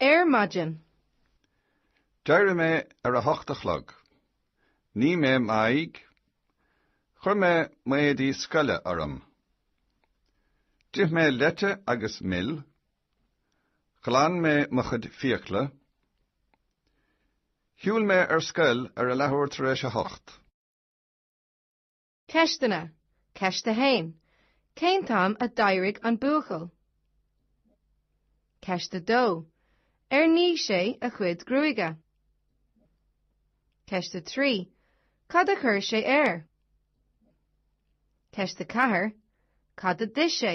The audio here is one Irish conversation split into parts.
Ar maidin. D'éirigh mé ar a hocht a chlog. Nigh mé m'aghaidh. Chuir mé m'éadaí scoile orm. D'ith mé leite agus mil. Ghlan mé mo chuid fiacla. Shiúil mé ar scoil ar a leathuair tar éis a hocht. Ceisteanna, Ceist 1, Cén t-am a d'éirigh an buachaill? Ceist 2, Ar nigh sé a chuid gruaige? Ceist 3, Cad a chuir sé air? Ceist 4, Cad a d'ith sé?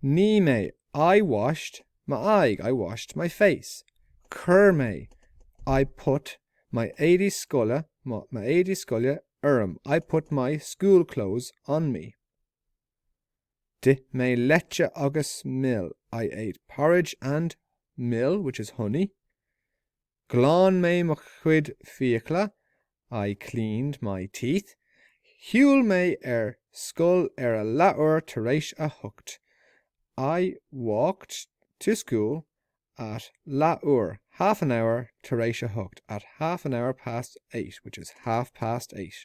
Nigh mé, I washed, m'aghaidh, I washed my face. Chuir mé, I put, my éadaí scoile, mo, m'éadaí scoile, orm, I put my, school clothes, on me. D'ith mé leite agus mil, I ate porridge and mil, which is honey. Ghlan mé mo chuid fiacla, I cleaned my teeth. Shiúil mé ar scoil ar a leathuair tar éis a hocht, I walked to school at leathuair, half an hour, tar éis a hocht, at half an hour past eight, which is half past eight.